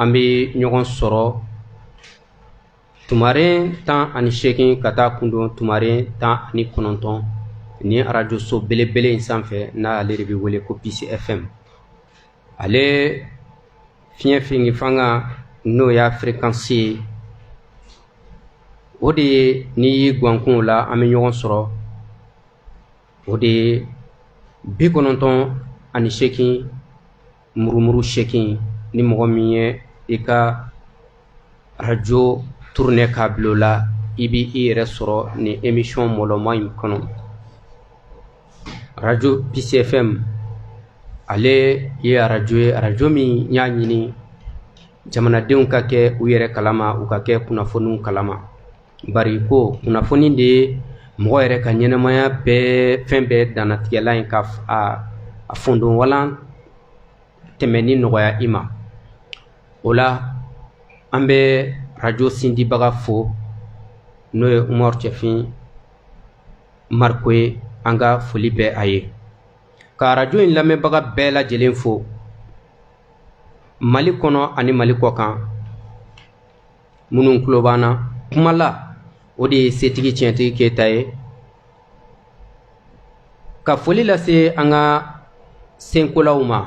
an bɛ ɲɔgɔn sɔrɔ tumaren tan ani seegin ka taa kundon tumaren tan ani kɔnɔntɔn ni arajoso belebele in sanfɛ n'ale de bɛ wele ko peace fm ale fiɲɛ fingi fanga n'o y'a firikansi ye o de ye n'i y'i gwankun la an bɛ ɲɔgɔn sɔrɔ o de ye bi kɔnɔntɔn ani seegin murumuru sekin ni mɔgɔ min ye i ka arajo turune k'a bila o la i b'i yɛrɛ sɔrɔ nin emisiyɔn mɔlɔma in kɔnɔ arajo peace fm ale ye arajo ye arajo min y'a ɲini jamanadenw ka kɛ u yɛrɛ kalama u ka kɛ kunnafoniw kalama bari ko kunnafoni de ye mɔgɔ yɛrɛ ka ɲɛnamaya bɛɛ fɛn bɛɛ dannatigɛla in ka a fondon walan tɛmɛni nɔgɔya i ma o la an bɛ arajo sindibaga fo n'o ye umaru cɛfin mariko ye an ka foli bɛ a ye ka arajo in lamɛnbaga bɛɛ lajɛlen fo mali kɔnɔ ani mali kɔkan minnu tulo b'an na kuma la o de ye setigi tiɲɛtigi keyita ye ka foli lase an ka senkolaw ma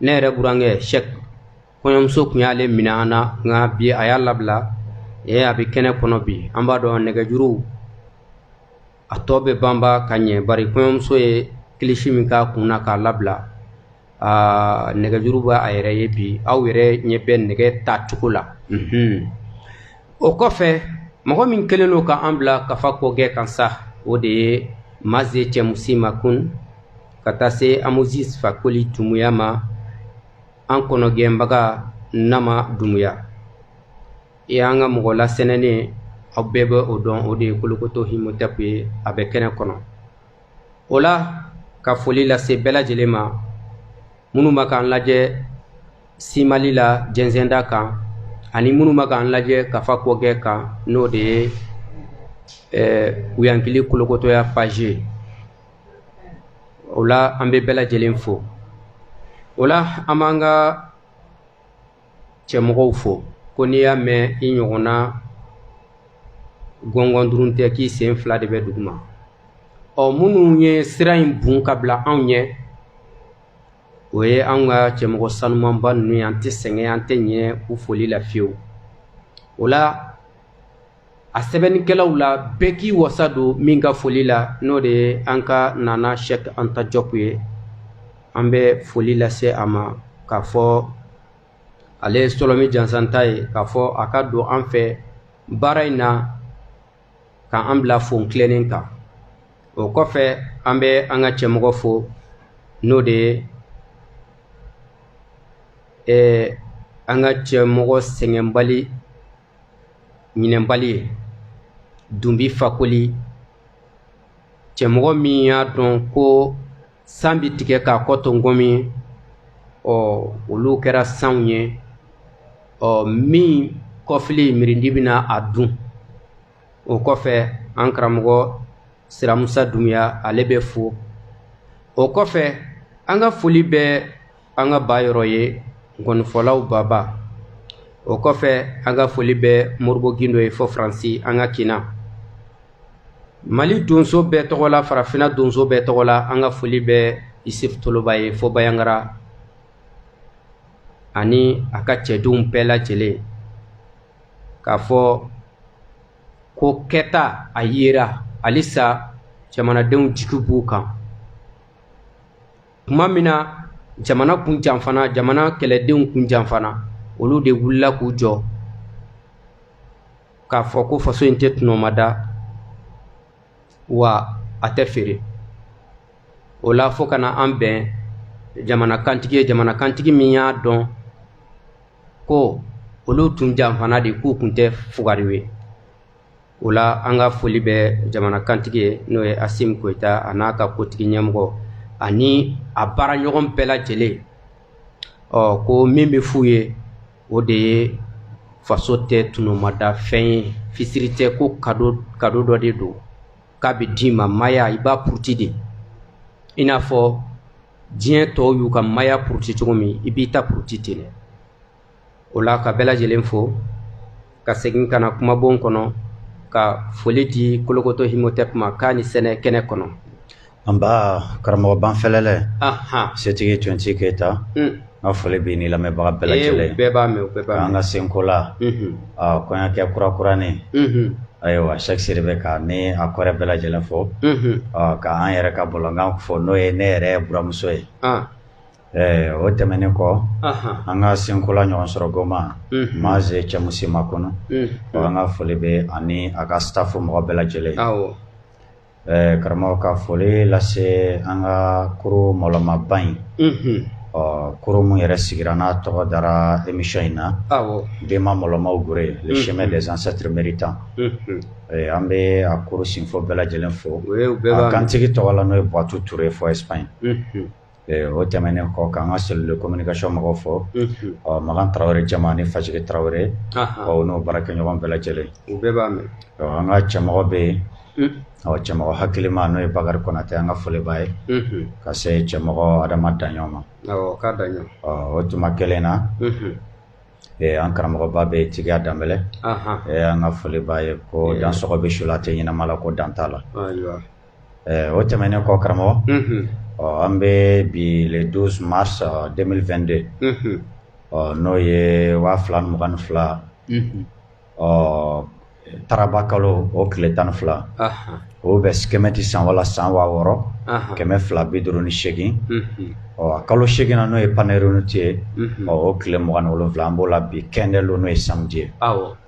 ne yɛrɛ burankɛ sɛk kɔɲɔmuso kun y'ale minɛ an na nka bi a y'a labila ee a bɛ kɛnɛ kɔnɔ bi an b'a dɔn nɛgɛjuruw a tɔ bɛ banba ka ɲɛ bari kɔɲɔmuso ye kilisi min k'a kun na k'a labila aa nɛgɛjuru b'a a yɛrɛ ye bi aw yɛrɛ ɲɛ bɛ nɛgɛ ta cogo la mhm. o kɔfɛ mɔgɔ min kelen don ka an bila kafa kɔgɛ kan sa o de ye maze cɛmusi makun ka taa se amozis fakoli dumuya ma an kɔnɔgɛnbaga nama dumuya e y'an ka mɔgɔ lasɛnɛnen aw bɛɛ bɛ o dɔn o de ye kolokoto himotɛpu ye a bɛ kɛnɛ kɔnɔ o la ka foli lase bɛɛ lajɛlen ma minnu bɛ k'an lajɛ simali la jɛnsɛnda kan ani minnu bɛ k'an lajɛ kafa kɔgɛ kan n'o de ye wuyankili kolokotoya paji ye o la an bɛ bɛɛ lajɛlen fo o la an b'an ka cɛmɔgɔw fo ko n'i y'a mɛn i ɲɔgɔnna gɔngɔn durun tɛ k'i sen fila de bɛ duguma ɔ minnu ye sira in bon ka bila anw ɲɛ o ye an ka cɛmɔgɔ sanumanba ninnu ye an tɛ sɛgɛn an tɛ ɲɛ u foli la fiyewu o la a sɛbɛnnikɛlaw la bɛɛ k'i wasa don min ka foli la n'o de ye an ka nana sɛk anta jɔp ye an bɛ foli lase a ma k'a fɔ ale ye sɔlɔmi jansanta ye k'a fɔ a ka don an fɛ baara in na ka an bila fon tilennen kan o kɔfɛ an bɛ an ka cɛmɔgɔ fo n'o de ye ɛɛ an ka cɛmɔgɔ sɛgɛnbali ɲinɛnbali ye dunbi fakoli cɛmɔgɔ min y'a dɔn ko san bi tigɛ k'a kɔ to nkɔmi ɔ olu kɛra sanw ye ɔ min kɔfili mirindi bɛna a dun o kɔfɛ an karamɔgɔ siramusa dumuya ale bɛ fo o kɔfɛ an ka foli bɛ an ka ba yɔrɔ ye nkɔnifɔlaw baba o kɔfɛ an ka foli bɛ moribo gindo ye fo faransi an ka kinna mali donso bɛɛ tɔgɔ la farafinna donso bɛɛ tɔgɔ la an ka foli bɛ isif toloba ye fo bayangara ani a ka cɛdenw bɛɛ lajɛlen k'a fɔ ko kɛta a yera halisa jamanadenw jigi b'u kan tuma min na jamana kun janfana jamana kɛlɛdenw kun janfana olu de wulila k'u jɔ k'a fɔ ko faso in tɛ tɔnɔmada wa a tɛ feere o la fo ka na an bɛn jamanakantigi ye jamanakantigi min y'a dɔn ko olu tun janfana de k'u kun tɛ fugariw ye o la an ka foli bɛ jamanakantigi ye n'o ye asimi goyita a n'a ka kotigi ɲɛmɔgɔ ani a baaraɲɔgɔn bɛɛ lajɛlen ɔ ko min bɛ f'u ye o de ye faso tɛ tɔnɔmada fɛn ye fisiri tɛ ko kado dɔ de don k'a bɛ d'i ma maaya i b'a puruti de i n'a fɔ diɲɛ tɔw y'u ka maaya puruti cogo min i b'i ta puruti ten dɛ o la ka bɛɛ lajɛlen fo ka segin ka na kumabon kɔnɔ ka foli di kolokoto himotɛp ma k'a ni sɛnɛ kɛnɛ kɔnɔ an ba karamɔgɔ banfɛlɛlɛ setigi tonti keyita n ka foli b'i ni lamɛnbaga bɛɛ lajɛlen bɛɛ b'a mɛn bɛɛ b'a an ka senko la hmm. kɔɲɔkɛ kura kuranin hmm. ayiwa shaka sidibe k'a ni a kɔrɛ bɛɛ lajɛlen fo ka an yɛrɛ ka bɔlɔnkan fo n'o ye ne yɛrɛ buramuso ye Ɛɛ o tɛmɛnen kɔ an ka senkola ɲɔgɔn sɔrɔ goma maze cɛmusi makun ɔ an ka foli bɛ ani a ka staff mɔgɔ bɛɛ lajɛlen ɛɛ karamɔgɔ ka foli lase an ka kuru mɔlɔmaba in ɔ kuru min yɛrɛ sigira n'a tɔgɔ dara émission in na bɛnma mɔlɔmaw gure le chemin des ancêtres méritants an bɛ a kuru sinfo bɛɛ lajɛlen fo a kantigi tɔgɔ la n'o ye buwatu ture fo Espagne O tɛmɛnen kɔ k'an ka cellule de communication mɔgɔw fo ɔ magan tarawele jama ni fajigi tarawele n'u baarakɛɲɔgɔn bɛɛ lajɛlen u bɛɛ b'a mɛn an ka cɛmɔgɔ bɛ yen ɔ cɛmɔgɔ hakilima n'o ye bakari konate an ka foli b'a ye ka se cɛmɔgɔ adama daɲɔn ma k'a da o tuma kelen na an karamɔgɔba bɛ jigiya danbɛlɛ an ka foli b'a ye ko dan sɔrɔ bɛ su la a tɛ ɲɛnama la ko dan t'a la o tɛmɛnen kɔ karamɔgɔ ɔ an bɛ bi le douze mars deux mille vingt-deux ɔ n'o ye waa fila mugan ni fila ɔ taraba kalo o tile tan ni fila o bɛ kɛmɛti san wala san waa wɔɔrɔ kɛmɛ fila bi duuru ni seegin ɔ kalo seeginnan na n'o ye panerinuti ye ɔ o tile mugan ni wolonwula an b'o la bi kɛndɛlon n'o ye samedi ye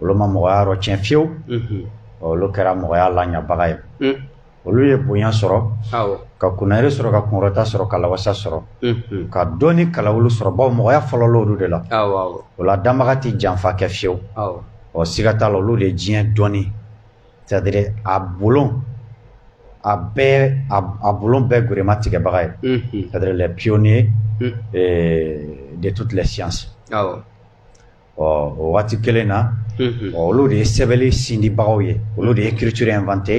olu ma mɔgɔya yɔrɔ tiɲɛ fiyewu olu kɛra mɔgɔya laɲabaga ye olu ye bonya sɔrɔ ka kunnayiri sɔrɔ ka kunkɔrɔta sɔrɔ ka lawasa sɔrɔ ka dɔnni kalaw olu sɔrɔ bawo mɔgɔya fɔlɔla olu de la o la danbaga tɛ janfa kɛ fiyewu ɔ siga t'a la olu de ye diɲɛ dɔnni c'est-à-dire a bolo a bɛɛ a bolon bɛɛ gurema tigɛbaga ye c'est-à-dire les pionniers de toutes les sciences ɔ o waati kelen na olu de ye sɛbɛli sindibagaw ye olu de ye écriture inventé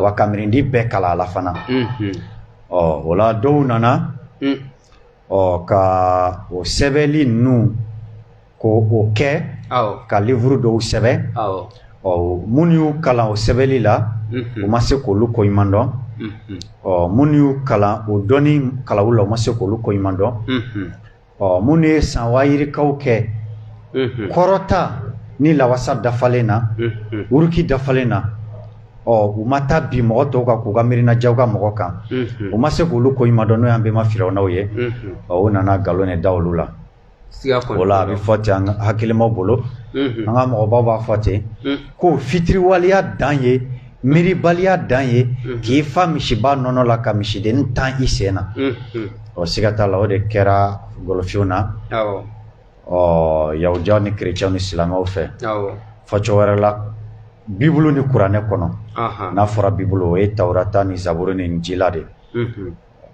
wa kamirindi bɛɛ kala a la fana ɔ o la dɔw nana ɔ ka o sɛbɛli ninnu ko o kɛ ka livuru dɔw sɛbɛn ɔ minnu y'u kalan o sɛbɛli la u ma se k'olu ko ɲuman dɔn ɔ minnu y'u kalan o dɔnni kalaw la u ma se k'olu ko ɲuman dɔn ɔ minnu ye san waa yirikaw kɛ kɔrɔta ni lawasa dafalen na wuruki dafalen na ɔ u ma taa bin mɔgɔ tɔw kan k'u ka miirina jagoya mɔgɔ kan u ma se k'olu ko ɲuman dɔn n'o y'an bɛnma firawunaw ye ɔ u nana nkalon de da olu la o la a bɛ fɔ ten an hakilimaw bolo an ka mɔgɔbaw b'a fɔ ten ko fitiriwaleya dan ye miiribaliya dan ye k'i fa misiba nɔnɔ la ka misiden tan i sen na ɔ siga t'a la o de kɛra golofinw na ɔ yahudiyaw ni kerecɛnw ni silamɛw fɛ fɔcogo wɛrɛ la bibulu ni kuranɛ kɔnɔ n'a fɔra bibulu o ye tawurata ni zaburu ni injila de ye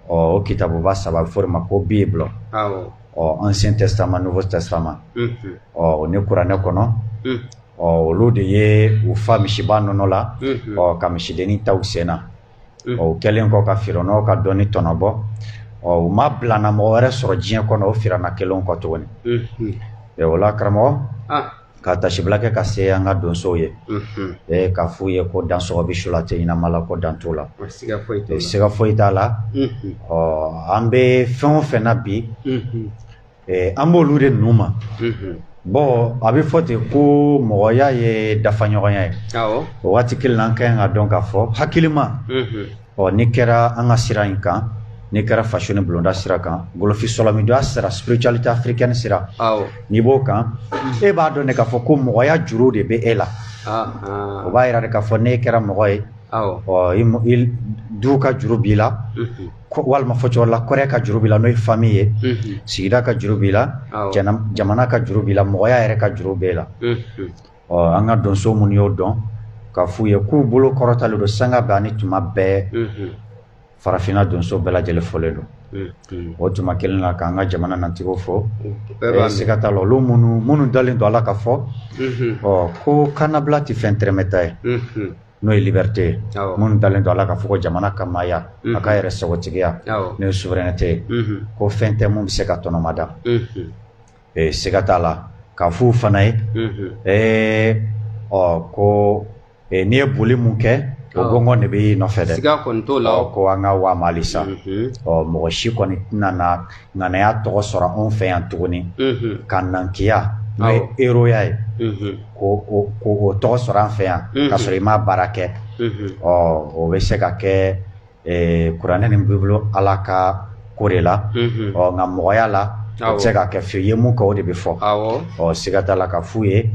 ɔ o kitabuba saba bɛ fɔ o de ma ko bible ɔ ancien testament nouveau testament ɔ o ni kuranɛ kɔnɔ ɔ olu de ye u fa misiba nɔnɔ la ɔ ka misidennin tan u sen na ɔ u kɛlen kɔ ka firawunaw ka dɔnni tɔnɔbɔ ɔ u ma bilana mɔgɔ wɛrɛ sɔrɔ diɲɛ kɔnɔ o firawuna kelen kɔ tuguni o la karamɔgɔ ka tasibila kɛ ka se an ka donsow ye ka f'u ye ko dansɔgɔ bɛ su la a tɛ ɲɛnama la ko dan t'o la siga foyi t'a la ɔ an bɛ fɛn o fɛn na bi an b'olu de nu ma bɔn a bɛ fɔ ten ko mɔgɔya ye dafaɲɔgɔnya ye o waati kelen na an ka ɲi k'a dɔn k'a fɔ hakilima ɔ n'i kɛra an ka sira in kan n'i kɛra faso ni bulonda sira kan golofin sɔlɔmidonya sira spiritualité africaine sira n'i b'o kan e b'a dɔn de k'a fɔ ko mɔgɔya juru de bɛ e la ah, ah. o b'a yira de k'a fɔ n'e kɛra mɔgɔ ye ɔ du ka juru b'i la mhm. walima fɔcogo la kɔrɛ ka juru b'i la n'o ye famille ye mhm. sigida ka juru b'i la jamana ka juru b'i la mɔgɔya yɛrɛ ka juru b'e la mhm. ɔ an ka donso minnu y'o dɔn ka f'u ye k'u bolo kɔrɔtalen don sanga bɛɛ ani tuma bɛɛ farafinna donso bɛɛ lajɛlen folen don o tuma kelen na k'an ka jamana natigiw fo siga t'a la olu minnu minnu dalen don a la k'a fɔ ɔ ko kannabila tɛ fɛn tɛrɛmɛta ye n'o ye liberté ye minnu dalen don a la k'a fɔ jamana ka maaya a ka yɛrɛ sagotigiya n'o ye souveraineté ye ko fɛn tɛ min bɛ se ka tɔnɔmada ee siga t'a la ka f'u fana ye ee ɔ ko n'i ye boli min kɛ o gɔngɔn de bɛ y'i nɔfɛ dɛ siga kɔni t'o la ɔ ko an ka wa a ma halisa ɔ mɔgɔ si kɔni tɛna na ŋanaya tɔgɔ sɔrɔ anw fɛ yan tuguni ka nankiya n'o ye eroya ye k'o tɔgɔ sɔrɔ an fɛ yan k'a sɔrɔ i ma baara kɛ ɔ o bɛ se ka kɛ kuranɛ ni bibulu ala ka ko de la ɔ nka mɔgɔya la a tɛ se ka kɛ fiyewu i ye mun kɛ o de bɛ fɔ ɔ siga t'a la ka f'u ye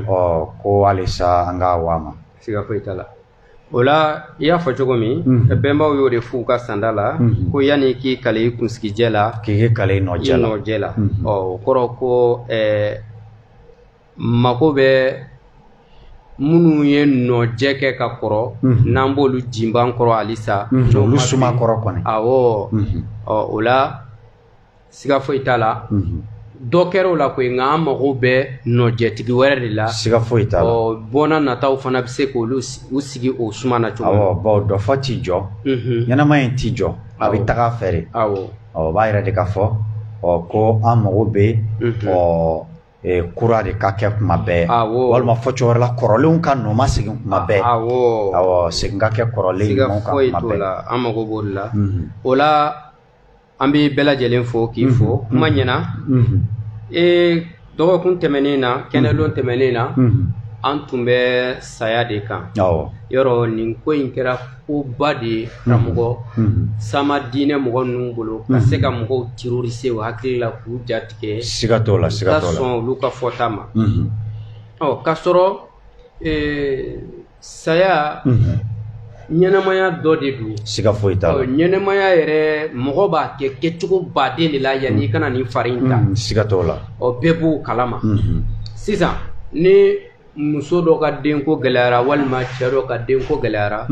ɔ ko halisa an ka wa a ma siga foyi t'a la o la i y'a fɔ cogo min bɛnbaw y'o de fɔ u ka sanda la ko yanni k'i kali i kunsigijɛ la k'i kali i nɔjɛ la ɔ o kɔrɔ ko mago bɛ minnu ye nɔjɛ kɛ ka kɔrɔ n'an b'olu jinban kɔrɔ halisa olu suma kɔrɔ kɔnɔ ɔ o la siga foyi t'a la dɔ kɛra o la ko nka an mago bɛ nɔjɛtigi wɛrɛ de la siga foyi t'a la bɔnna nataw fana bɛ se k'olu u sigi o suma na cogo baw dɔ fɔ t'i jɔ ɲɛnamaya in t'i jɔ a bɛ taga fɛ o b'a yira de k'a fɔ ɔ ko an mago bɛ yen ɔ kura de ka kɛ kuma bɛɛ walima fɔ cogo wɛrɛ la kɔrɔlenw ka nɔ ma segin kuma bɛɛ segin ka kɛ kɔrɔlen an mago b'o la o la an bɛ bɛɛ lajɛlen fo k'i fo kuma ɲɛna ee dɔgɔkun tɛmɛnen na kɛnɛlon tɛmɛnen na an tun bɛ saya de kan yɔrɔ nin ko in kɛra koba de ye karamɔgɔ sama diinɛ mɔgɔ ninnu bolo ka se ka mɔgɔw terroriser o hakili la k'u jatigɛ siga t'o la siga sɔn olu ka fɔta ma ɔ k'a sɔrɔ saya ɲɛnamaya dɔ de don siga foyi t'a la ɲɛnamaya yɛrɛ mɔgɔ b'a kɛ kɛcogo baden de la yanni i ka na nin fari in ta siga t'o la ɔ bɛɛ b'o kalama sisan ni muso dɔ ka denko gɛlɛyara walima cɛ dɔ ka denko gɛlɛyara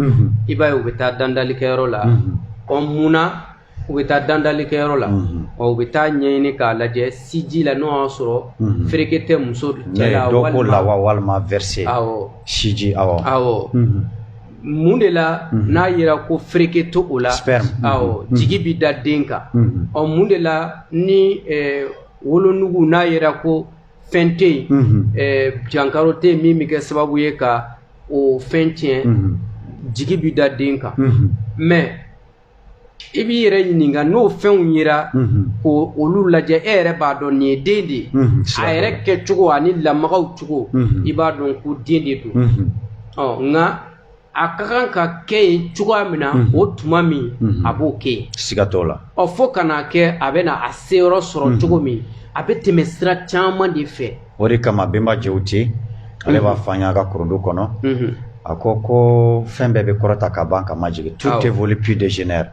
i b'a ye u bɛ taa dandalikɛyɔrɔ la ɔ mun na u bɛ taa dandalikɛyɔrɔ la ɔ u bɛ taa ɲɛɲini k'a lajɛ siji la n'o y'a sɔrɔ fereke tɛ muso cɛ la walima lawa walima verser awɔ siji awɔ awɔ mun de la n'a yera ko fereke t'o la awɔ jigi bɛ da den kan ɔ mun de la ni wolonugu n'a yera ko fɛn tɛ yen jankaro tɛ yen min bɛ kɛ sababu ye ka o fɛn tiɲɛ jigi bɛ da den kan mɛ i b'i yɛrɛ ɲininka n'o fɛnw yera ko olu lajɛ e yɛrɛ b'a dɔn nin ye den de ye a yɛrɛ kɛcogo ani lamagaw cogo i b'a dɔn ko den de don ɔ nka a ka kan ka kɛ yen cogoya min na o tuma min a b'o kɛ yen siga t'o la ɔ fo ka n'a kɛ a bɛna a seyɔrɔ sɔrɔ cogo min a bɛ tɛmɛ sira caman de fɛ o de kama bɛnba Jewute ale b'a fɔ an y'a ka kurundu kɔnɔ a ko ko fɛn bɛɛ bɛ kɔrɔta ka ban ka majigin tout évolue puis dégénère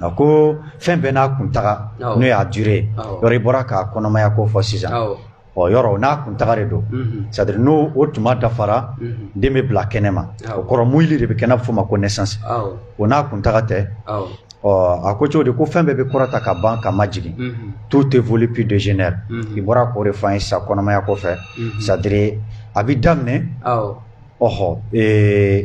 A ko fɛn bɛɛ n'a kuntaga n'o y'a durée ye ɔ i bɔra ka kɔnɔmaya ko fɔ sisan ɔ yɔrɔ n'a kuntaga de don c'est-à-dire n'o tuma dafara den bɛ bila kɛnɛ ma o kɔrɔ moyili de bɛ kɛ n'a fɔ ma ko naissance o n'a kuntaga tɛ ɔ a ko cogo di ko fɛn bɛɛ bɛ kɔrɔta ka ban ka majigin tout évolue puis dégénère i bɔra k'o de fɔ an ye sisan kɔnɔmaya kɔfɛ c'est-à-dire a bɛ daminɛ ɔɔ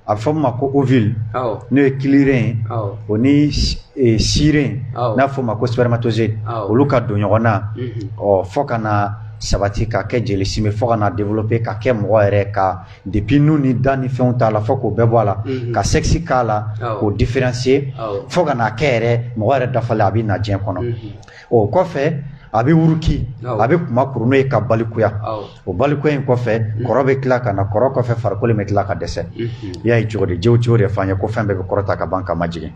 a bɛ fɔ min ma ko ovule awɔ n'o ye kiliren ye awɔ o ni si- eh, siren Awɔ. n'a bɛ fɔ o ma ko spermatozoïde Awɔ. olu ka don ɲɔgɔn na Mhm. ɔ fɔ ka na sabati ka kɛ jeli sime fɔ ka na développer ka kɛ mɔgɔ yɛrɛ ka depuis nu ni da ni fɛnw t'a la fɔ k'o bɛɛ bɔ a la Mhm. ka sexe k'a la Awɔ. k'o différencier Awɔ. fɔ ka n'a kɛ yɛrɛ mɔgɔ yɛrɛ dafalen a bɛ na diɲɛ kɔnɔ Mhm. o kɔfɛ a bɛ wuruki a bɛ kuma kuru n'o ye ka balikuya o balikuya in kɔfɛ mm. kɔrɔ bɛ tila ka na kɔrɔ kɔfɛ farikolo bɛ tila ka dɛsɛ mm-hmm. i y'a ye cogo di Jewuti y'o de f'an ye ko fɛn bɛɛ bɛ kɔrɔta ka ban ka majigin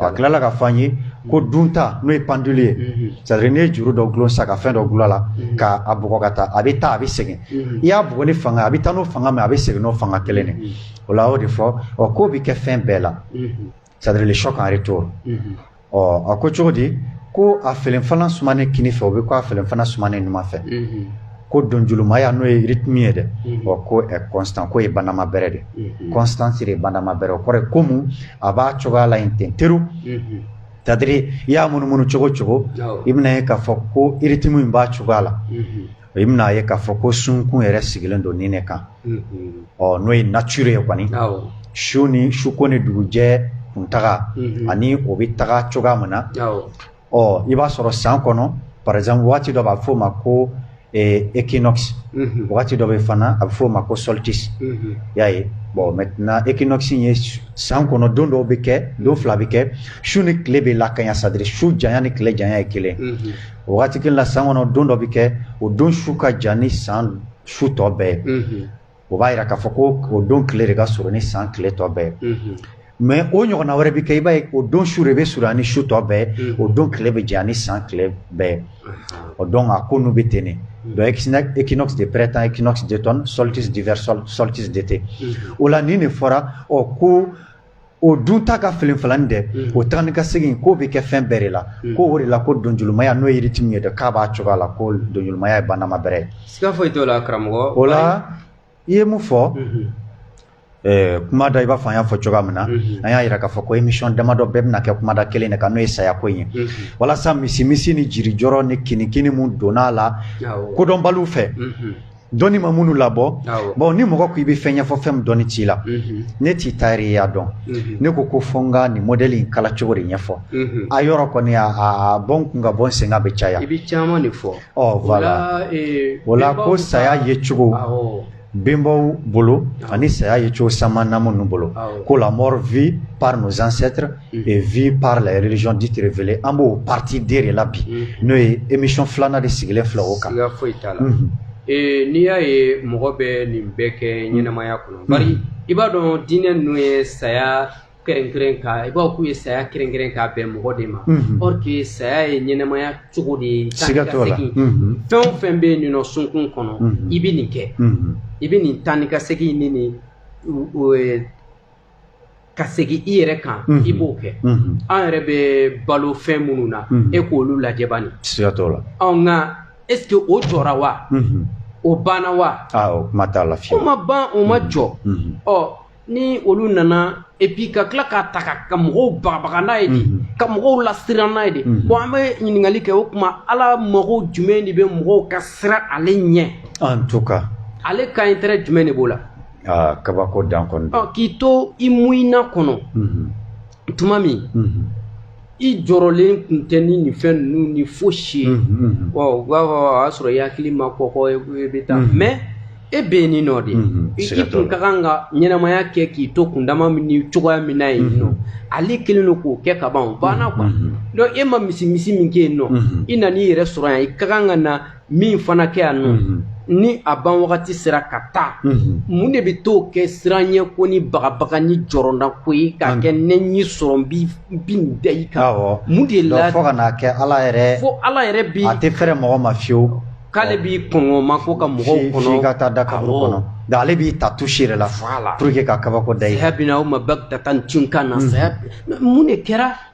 a tilala ka f'an ye ko mm. dunta n'o ye pendule ye mm-hmm. c'est à dire n'i ye juru dɔ gulon sisan ka fɛn dɔ gulon a la mm-hmm. ka a bugɔ ka taa a bɛ taa a bɛ segin i y'a bugɔ ni fanga a bɛ taa n'o fanga min a bɛ segin n'o fanga kelen de o la a y'o de fɔ ɔ k'o bɛ kɛ fɛn bɛɛ la c'est à dire le choc en retour ɔ a ko cogo di ko a felenfalan sumanen kini fɛ o bɛ ko a felenfalan sumanen numan fɛ ko donjulumaya n'o ye rythme ye dɛ ɔ ko est constant ko ye banama bɛrɛ de constance de ye banama bɛrɛ o kɔrɔ ye ko mun a b'a cogoya la yen ten teru c'est à dire i y'a munumunu cogo cogo i bɛna ye k'a fɔ ko rythme in b'a cogoya la i bɛn'a ye k'a fɔ ko sunkun yɛrɛ sigilen don ni de kan ɔ n'o ye nature ye kɔni su ni suko ni dugujɛ kun taga ani o bɛ taga cogoya min na ɔ i b'a sɔrɔ san kɔnɔ par exemple waati dɔ b'a fɔ o ma ko équinoxe waati dɔ bɛ fana a bɛ fɔ o ma ko solstice y'a ye bon maintenant équinoxe in ye san kɔnɔ don dɔw bɛ kɛ don fila bɛ kɛ su ni tile bɛ lakanya c'est à dire su janya ni tile janya ye kelen o waati kelen na san kɔnɔ don dɔ bɛ kɛ o don su ka jan ni san su tɔ bɛɛ ye o b'a jira k'a fɔ ko o don tile de ka surun ni san tile tɔ bɛɛ ye mais o ɲɔgɔnna wɛrɛ bɛ kɛ i b'a ye o don su de bɛ surun ni su tɔ bɛɛ ye o don tile bɛ jan ni san tile bɛɛ ye o donc a ko n'u bɛ ten de donc équinoxe de printemps équinoxe d'automne solstice d'hiver solstice d'été o la nin de fɔra ɔ ko o dunta ka felenfalanin dɛ o tagani ka segin k'o bɛ kɛ fɛn bɛɛ de la ko o de la ko donjulumaya n'o ye rythme ye dɛ k'a b'a cogoya la ko donjulumaya ye banama bɛrɛ ye siga foyi t'o la karamɔgɔ o la i ye mun fɔ kumada i b'a fɔ an y'a fɔ cogoya min na an y'a jira k'a fɔ ko émission damadɔ bɛɛ bɛna kɛ kumada kelen de kan n'o ye saya ko in ye walasa misimisi ni jirijɔrɔ ni kinikini minnu donna a la kodɔnbaliw fɛ Dɔnni ma minnu labɔ bon ni mɔgɔ ko i bɛ fɛn ɲɛfɔ fɛn min dɔnni t'i la ne tɛ tayɛriya dɔn ne ko ko fo n ka nin modèle in kala cogo de ɲɛfɔ a yɔrɔ kɔni a bɔ n kun ka bɔ n sen kan bɛ caya i bɛ caman de fɔ voilà o la ko saya ye cogo bɛnbaw bolo ani saya ye cogo sama namu ninnu bolo ko la mort vue par nos ancêtres et vue par la religion dite révélée an b'o partie de de la bi n'o ye émission filanan de sigilen filɛ o kan siga foyi t'a la ee n'i y'a ye mɔgɔ bɛ nin bɛɛ kɛ ɲɛnamaya kɔnɔ bari i b'a dɔn diinɛ ninnu ye saya kɛrɛnkɛrɛn ka i b'a k'u ye saya kɛrɛnkɛrɛn k'a bɛn mɔgɔ de ma or que saya ye ɲɛnamaya cogo de ye siga t'o la fɛn o fɛn bɛ yen nin nɔ sunkun kɔnɔ i bɛ nin kɛ i bɛ nin taa ni ka segin ni nin ka segin i yɛrɛ kan i b'o kɛ an yɛrɛ bɛ balo fɛn minnu na e k'olu lajɛ bani siga t'o la nka est ce que o jɔra wa o banna wa o kuma t'a la fiyewu o ma ban o ma jɔ ɔ ni olu nana et puis ka tila k'a ta ka mɔgɔw bagabaga n'a ye de ka mɔgɔw lasiran n'a ye de bon an bɛ ɲininkali kɛ o tuma ala mago jumɛn de bɛ mɔgɔw ka siran ale ɲɛ en tout cas ale ka intérêt jumɛn de b'o la Aa kabako dan kɔni don. Ɔ k'i to i muyina kɔnɔ. Unhun. Tuma min. Unhun. I jɔrɔlen tun tɛ ni nin fɛn ninnu ni fosi ye. Unhun unhun. Ɔ u b'a fɔ a y'a sɔrɔ i hakili ma kɔgɔ i ko i bɛ taa. Unhun. Mais e bɛ yen ni nɔ de. Unhun. Siga t'o la. I tun ka kan ka ɲɛnamaya kɛ k'i to kundama min ni cogoya min na yen nɔ. Unhun. Ale kɛlen don k'o kɛ ka ban o banna quoi. Unhun. Donc e ma misi misi min kɛ yen nɔ. Unhun. I nan'i yɛrɛ sɔrɔ yan i ka kan ka na min fana kɛ yan nɔ ni a ban wagati sera ka taa mun de bɛ t'o kɛ siranɲɛko ni bagabaga ni jɔrɔnanko ye k'a kɛ ne y'i sɔrɔ n bi nin da i kan mun de la fo ka n'a kɛ ala yɛrɛ fo ala yɛrɛ bi a tɛ fɛrɛ mɔgɔ ma fiyewu k'ale b'i kɔngɔ ma ko ka mɔgɔw kɔnɔ f'i ka taa da kaburu kɔnɔ nka ale b'i ta touche yɛrɛ la pour que ka kabako da i saya bina o ma bagdatan tunkan na saya mun de kɛra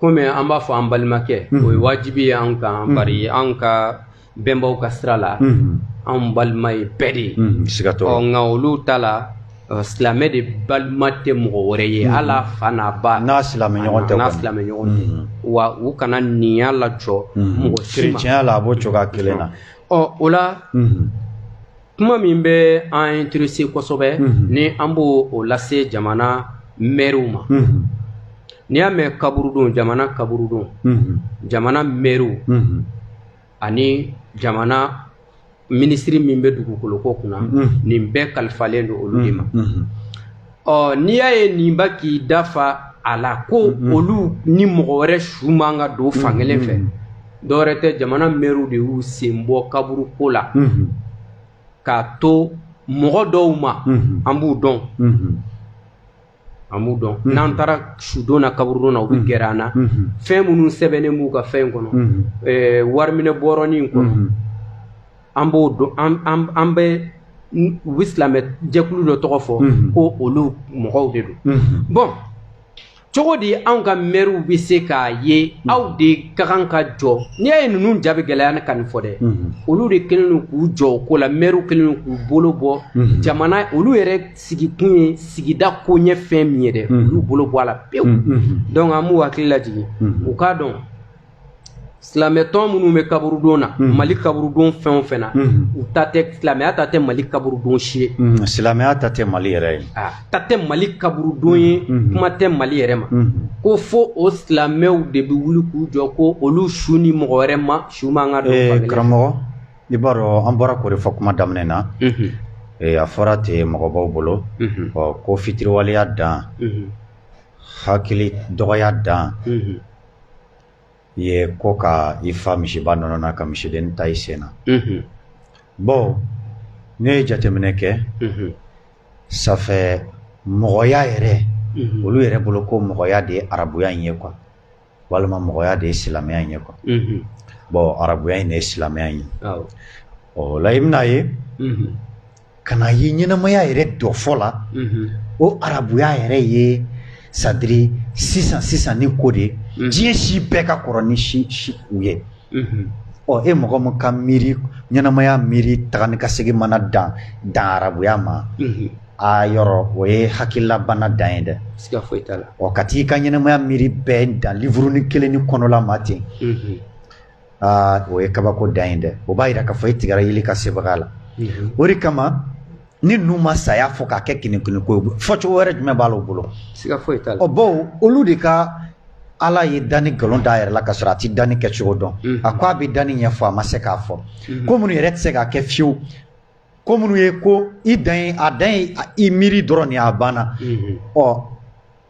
komi an b'a fɔ an balimakɛ o ye wajibi ye an kan bari an ka bɛnbaw ka sira la an balima ye bɛɛ de ye nka olu ta la silamɛ de balima tɛ mɔgɔ wɛrɛ ye hal'a fa n'a ba n'a silamɛ ɲɔgɔn tɛ wa u kana ninya lajɔ mɔgɔ si ma tiɲɛ la a b'o cogoya kelen na ɔ o la kuma min bɛ an intéressé kosɛbɛ ni an b'o lase jamana mɛriw ma n'i y'a mɛn kaburudon jamana kaburudon jamana mɛriw ani jamana minisiri min bɛ dugukoloko kunna nin bɛɛ kalifalen don olu de ma ɔ n'i y'a ye nin ba k'i dafa a la ko mm-hmm. olu ni mɔgɔ wɛrɛ su man ka don fankelen fɛ mm-hmm. dɔwɛrɛ tɛ jamana mɛriw de y'u sen bɔ kaburu ko la mm-hmm. k'a to mɔgɔ dɔw ma an b'u dɔn an b'u dɔn mhm. n'an taara sudon na kaburudon na u bɛ mhm. gɛrɛ an na mhm. fɛn minnu sɛbɛnnen b'u ka fɛn kɔnɔ wariminɛ bɔrɔnin kɔnɔ an b'o dɔn an bɛ u bɛ silamɛ jɛkulu dɔ tɔgɔ fɔ ko olu mɔgɔw de don bon cogo di anw ka mɛriw bɛ se k'a ye aw de ka kan ka jɔ n'i y'a ye ninnu ja bi gɛlɛya ne ka nin fɔ dɛ olu de kɛlen don k'u jɔ o ko la mɛriw kɛlen don k'u bolo bɔ jamana olu yɛrɛ sigikun ye sigida koɲɛ fɛn min ye dɛ olu bolo bɔ a la pewu donc an b'u hakili lajigin u k'a dɔn silamɛtɔn minnu bɛ kaburudon na mhm. mali kaburudon fɛn o fɛn na mhm. u ta tɛ silamɛya ta tɛ mali kaburudon si ye mhm. silamɛya ta tɛ mali yɛrɛ ye ah, ta tɛ mali kaburudon ye kuma tɛ mali yɛrɛ ma ko fo o silamɛw de bɛ wuli k'u jɔ ko olu su ni mɔgɔ wɛrɛ ma su man ka don eh, karamɔgɔ i b'a dɔn an bɔra k'o de fɔ kuma daminɛ na eh, a fɔra ten mɔgɔbaw bolo ko fitiriwaleya dan hakili dɔgɔya dan ye ko ka i fa misiba nɔnɔ na ka misiden tan i sen na bon ne ye jateminɛ kɛ ça fait mɔgɔya yɛrɛ olu yɛrɛ bolo ko mɔgɔya de ye arabuya in ye quoi walima mɔgɔya de ye silamɛya in ye quoi bon arabuya in de ye silamɛya in ye o la i bɛna ye ka na ye ɲɛnamaya yɛrɛ dɔ fɔ la o arabuya yɛrɛ ye c'est-à-dire sisan sisan ni ko de diɲɛ si bɛɛ ka kɔrɔ ni si si u ye ɔ e mɔgɔ min ka miiri ɲɛnamaya miiri taga ni ka segin mana dan dan arabuya ma a yɔrɔ o ye hakililabana dan ye dɛ siga foyi t'a la ɔ ka t'i ka ɲɛnamaya miiri bɛɛ dan livurunin kelen ni kɔnɔla ma ten aa o ye kabako dan ye dɛ o b'a jira k'a fɔ e tigɛra yeli ka sebaga la o de kama ni ninnu ma saya fɔ k'a kɛ kinikini ko ye fɔcogo wɛrɛ jumɛn b'a la u bolo bon olu de ka ala ye danni nkalon d'a yɛrɛ la ka sɔrɔ a tɛ danni kɛcogo dɔn a ko a bɛ danni ɲɛfɔ a ma se k'a fɔ ko minnu yɛrɛ tɛ se k'a kɛ fiyewu ko minnu ye ko i dan a dan ye i miiri dɔrɔn nin a banna ɔ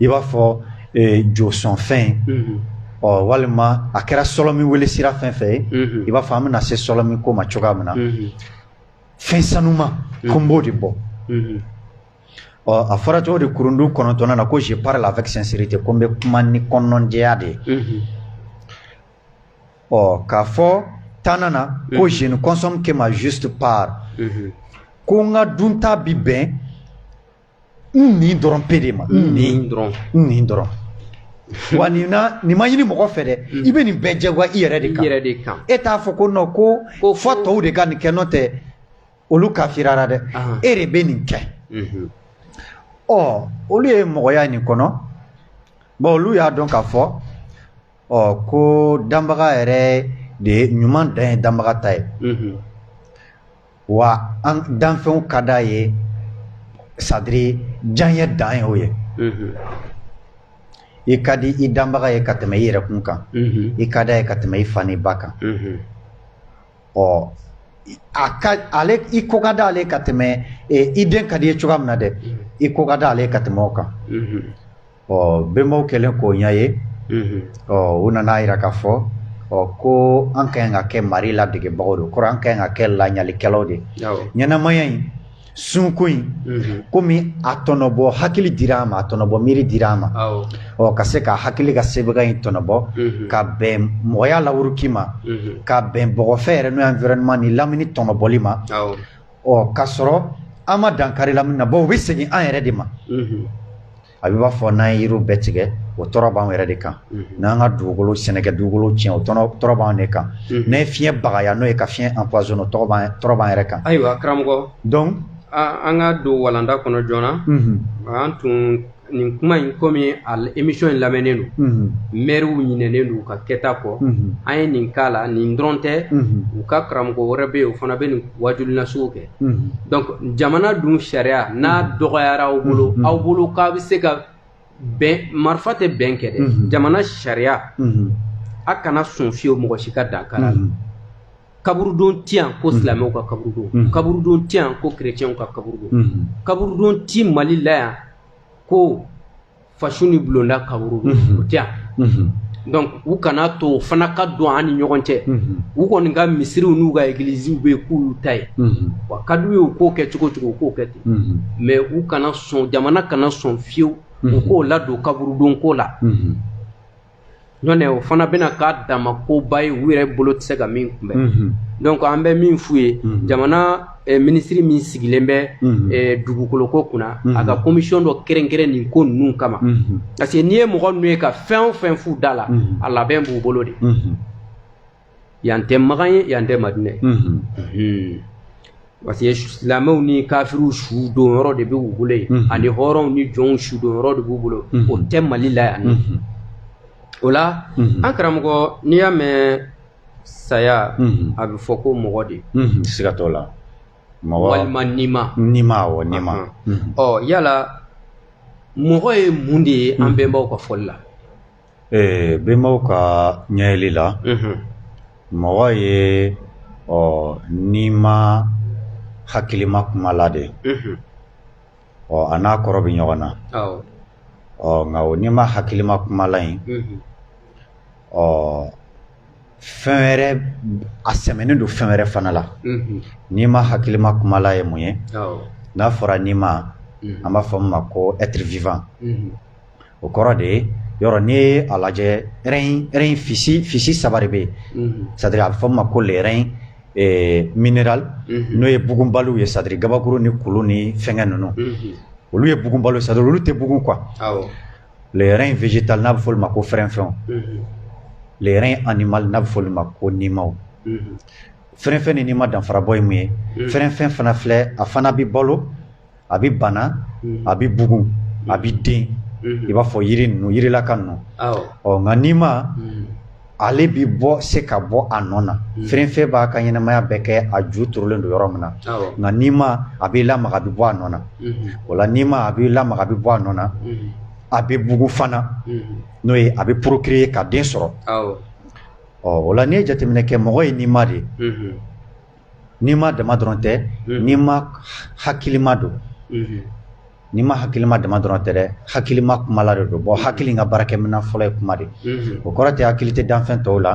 i b'a fɔ josɔnfɛn ɔ walima a kɛra sɔlɔmin wele sira fɛn fɛn ye i b'a fɔ an bɛna se sɔlɔmin ko ma cogoya min na fɛn sanuma ko n b'o de bɔ ɔ a fɔra cogo di kurundu kɔnɔntɔnnan na ko je parle avec sincérité ko n bɛ kuma ni kɔnɔnjɛya de ye ɔ k'a fɔ tannan na ko je ne consomme que ma juste part ko n ka dunta bi bɛn n nin dɔrɔn pe de ma n nin dɔrɔn n nin dɔrɔn wa nin na nin ma ɲini mɔgɔ fɛ dɛ mm. i bɛ nin bɛɛ jagoya i yɛrɛ de kan yɛrɛ de kan e t'a fɔ ko non ko ko fo tɔw de ka nin kɛ n'o tɛ olu kafirara dɛ e de bɛ nin kɛ mm-hmm. ɔ olu ye mɔgɔya nin kɔnɔ bon olu y'a dɔn k'a fɔ ɔ ko danbaga yɛrɛ de ɲuman dan ye danbaga ta ye mm-hmm. wa an danfɛnw ka d'a ye c'est-à-dire diyanye dan ye o ye i ka di i danbaga ye ka tɛmɛ i yɛrɛkun kan i ka d'a ye ka tɛmɛ i fa n'i ba kan ɔ ale i ko ka d'ale ye ka tɛmɛ i den ka di i ye cogoya min na dɛ i ko ka d'ale ye ka tɛmɛ o kan ɔ bɛnbaw kɛlen k'o ɲɛ ye ɔ u nana yira k'a fɔ ɔ ko an ka ɲi ka kɛ mari ladegebagaw de kɔrɔ an ka ɲi ka kɛ laɲalikɛlaw de ɲɛnamaya in sunko in komi a tɔnɔbɔ hakili dira an ma a tɔnɔbɔ miiri dira an ma ɔ ka se ka hakili ka sebaga in tɔnɔbɔ ka bɛn mɔgɔya lawuruki ma ka bɛn bɔgɔfɛ yɛrɛ n'o ye environnement ni lamini tɔnɔbɔli ma ɔ ka sɔrɔ an ma dankari lamini na bawo u bɛ segin an yɛrɛ de ma a bɛ b'a fɔ n'an ye yiriw bɛɛ tigɛ o tɔɔrɔ b'an yɛrɛ de kan n'an ka dugukolo sɛnɛkɛ dugukolo tiɲɛ o tɔɔrɔ b'an de kan n'an ye fiɲɛ bagaya n'o ye ka fiɲɛ empoisonner o tɔɔrɔ b'an yɛrɛ kan ayiwa karamɔgɔ donc an ka don walanda kɔnɔ joona an tun nin kuma in komi a émission in lamɛnnen don mhm. mɛriw ɲinɛnen don u ka kɛta kɔ mhm. an ye nin k'a la nin dɔrɔn tɛ mhm. u ka karamɔgɔ wɛrɛ bɛ yen o fana bɛ nin waajuli nasugu kɛ donc jamana dun sariya n'a dɔgɔyara aw bolo aw bolo k'a bɛ se ka bɛn marifa tɛ bɛn kɛ dɛ jamana sariya a kana sɔn fiyewu mɔgɔ si ka dankar'a la kaburudon tɛ yan ko silamɛw ka kaburudon kaburudon tɛ yan ko kerecɛnw ka kaburudon kaburudon tɛ mali la yan ko faso ni bulonda kaburudon o tɛ yan donc u kana to o fana ka don an ni ɲɔgɔn cɛ u kɔni ka misiriw n'u ka egiliziw bɛ yen k'olu ta ye wa ka d'u ye u k'o kɛ cogo cogo u k'o kɛ ten mais u kana sɔn jamana kana sɔn fiyewu u k'o ladon kaburudon ko la nɔntɛ o fana bɛna k'a dama koba ye u yɛrɛ bolo tɛ se ka min kunbɛn mhm. donc an bɛ min f'u ye mhm. jamana eh, minisiri min sigilen bɛ mhm. eh, dugukoloko kunna a ka komisiyɔn dɔ kɛrɛnkɛrɛn nin ko ninnu kama parce que n'i ye mɔgɔ ninnu ye ka fɛn o fɛn f'u da la a labɛn b'u bolo de yan tɛ makan ye yan tɛ madinɛ ye Mhm. Mhm. parce que silamɛw ni kafiriw su don yɔrɔ de bɛ u bolo yen Mhm. ani hɔrɔnw ni jɔnw su don yɔrɔ de b'u bolo Mhm. o tɛ mali la yan Mhm. o la Mhm. an karamɔgɔ n'i y'a mɛn saya Mhm. a bɛ fɔ ko mɔgɔ de Mhm. siga t'o la mɔgɔ walima nima nima awɔ nima Mhm. ɔ yala mɔgɔ ye mun de ye an bɛnbaw ka fɔli la Ee bɛnbaw ka ɲɛyeli la mɔgɔ ye ɔ nima hakilima kumala de ɔ a n'a kɔrɔ bɛ ɲɔgɔn na ɔ nka o nima hakilima kumala in ɔ fɛn wɛrɛ a sɛmɛnen don fɛn wɛrɛ fana la nima hakilima kumala ye mun ye n'a fɔra nima an b'a fɔ min ma ko être vivant o kɔrɔ de ye yɔrɔ n'i ye a lajɛ règne physique saba de bɛ yen c'est-à-dire a bɛ fɔ min ma ko le règne minéral n'o ye bugunbaliw ye c'est-à-dire kabakuru ni kulu ni fɛnkɛ ninnu olu ye bugunbaliw c'est-à-dire olu tɛ bugun quoi le règne végétal n'a bɛ fɔ olu ma ko fɛrɛnfɛnw le règne animal n'a bɛ fɔ olu ma ko nimaw fɛrɛnfɛn ni nima danfara bɔ ye mun ye fɛrɛnfɛn fana filɛ a fana bɛ balo a bɛ bana mhm. a bɛ bugun a bɛ mhm. den mhm. i b'a fɔ yiri ninnu yirilaka ninnu ɔ nka nima ale bi bɔ se ka bɔ a nɔ na fɛrɛnfɛn b'a ka ɲɛnamaya bɛɛ kɛ a ju turulen don yɔrɔ min na nka nima a b'i lamaga a bɛ bɔ a nɔ na o la nima a b'i lamaga a bɛ bɔ a nɔ na a bɛ bugun fana n'o ye a bɛ procréer ka den sɔrɔ ɔ o la n'i ye jateminɛ kɛ mɔgɔ ye nima de Nima dama dɔrɔn tɛ nima hakilima don nima hakilima dama dɔrɔn tɛ dɛ hakilima kumala de don bawo hakili ka baarakɛminɛn fɔlɔ ye kuma de o kɔrɔ tɛ hakili tɛ danfɛn tɔw la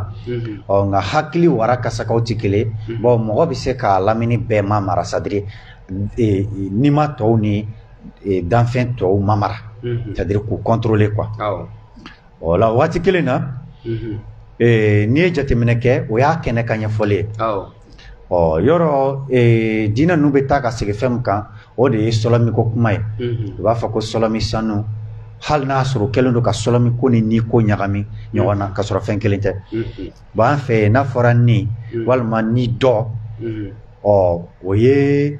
ɔ nka hakili wara ka sagaw tɛ kelen bawo mɔgɔ bɛ se k'a lamini bɛɛ mamara c'est-à-dire nima tɔw ni danfɛn tɔw mamara c'est-à-dire k'u contrôler quoi O la waati kelen na n'i ye jateminɛ kɛ o y'a kɛnɛ ka ɲɛfɔli ye ɔ yɔrɔ diinɛ ninnu bɛ taa ka segin fɛn min kan o de ye sɔlɔmi ko kuma ye u b'a fɔ ko sɔlɔmi sanu hali n'a sɔrɔ kɛlen don ka sɔlɔmi ko ni ni ko ɲagami ɲɔgɔn na ka sɔrɔ fɛn kelen tɛ bawo an fɛ n'a fɔra ni walima ni dɔ ɔ o ye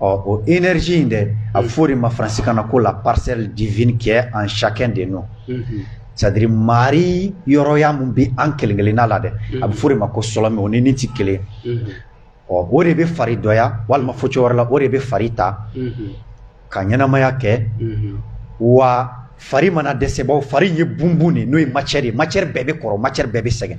Ɔ o énergie in dɛ a bɛ fɔ o de ma faransikan na ko la parcelle divine qui est en chacun de nous c'est-à-dire mari yɔrɔya min bɛ an kelen kelenna la dɛ a bɛ fɔ o de ma ko sɔlɔmi o ni ni tɛ kelen ɔ o de bɛ fari dɔya walima fɔ cogo wɛrɛ la o de bɛ fari ta ka ɲɛnamaya kɛ wa fari mana dɛsɛ bawo fari ye bunbun de n'o ye matière ye matière bɛɛ bɛ kɔrɔ matière bɛɛ bɛ sɛgɛn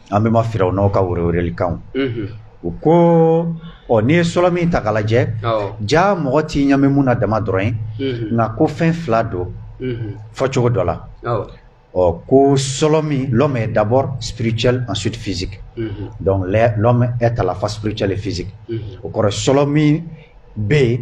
an bɛ ma fili aw n'aw ka wele weleli kan u ko ɔ n'i ye sɔrɔ min ta lajɛ ja mɔgɔ tɛ ɲamɛ min na dama dɔrɔn ye nka ko fɛn fila don fɔ cogo dɔ la ɔ ko sɔlɔ min lɔmɛ ye dabɔ sibiriti an suti fisi dɔnku taa fa sibiri cɛli fisi o kɔrɔ sɔlɔ min bɛ yen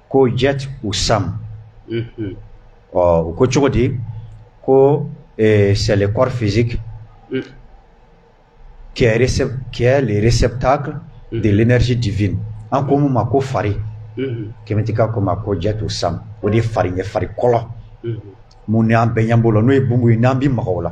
ko ja u san ɔ u ko cogo di ko sɛɛlɛkɔrɔ fi kɛlɛre sɛ ta deɛrɛresi difi an ko ma ko fari kɛmɛti ko ma ko ja u san o de ye fari ye fari kɔlɔn mun an bɛn ɲɛ bolo n'o ye bon ye n'an bɛ mɔgɔw la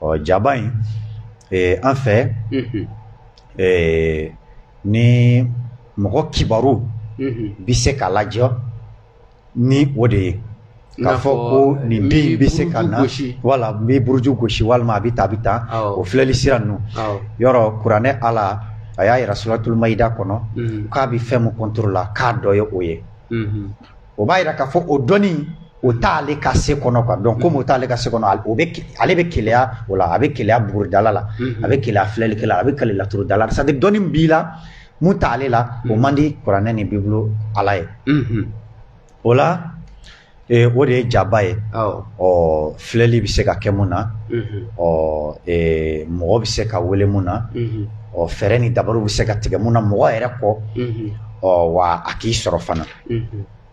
ɔ jaba in en fait ni mɔgɔ kibaru bɛ se ka lajɛ ni o de ye k'a fɔ ko nin den in bɛ se ka na wala n bɛ buruju gosi walima a bɛ taa a bɛ taa o filɛli sira ninnu yɔrɔ kuranɛ Ala a y'a jira suratul maida kɔnɔ k'a bɛ fɛn min contre la k'a dɔ ye o ye o b'a jira k'a fɔ o dɔnni o t'ale ka se kɔnɔ quoi donc comme o t'ale ka se kɔnɔ al- o bɛ ke- ale bɛ keleya o la a bɛ keleya buguridala la a bɛ keleya filɛlikɛla la a bɛ keleya laturudala la c'est à dire dɔnni b'i la mun t'ale la o man di kuranɛ ni bibulu ala ye Mhm. o la eh, o de ye jaba ye Awɔ. ɔ filɛli bɛ se ka kɛ mun na Mhm. ɔ eh, mɔgɔ bɛ se ka wele mun na Mhm. ɔ fɛɛrɛ ni dabariw bɛ se ka tigɛ mun na mɔgɔ yɛrɛ kɔ Mhm. ɔ wa a k'i sɔrɔ fana Mhm.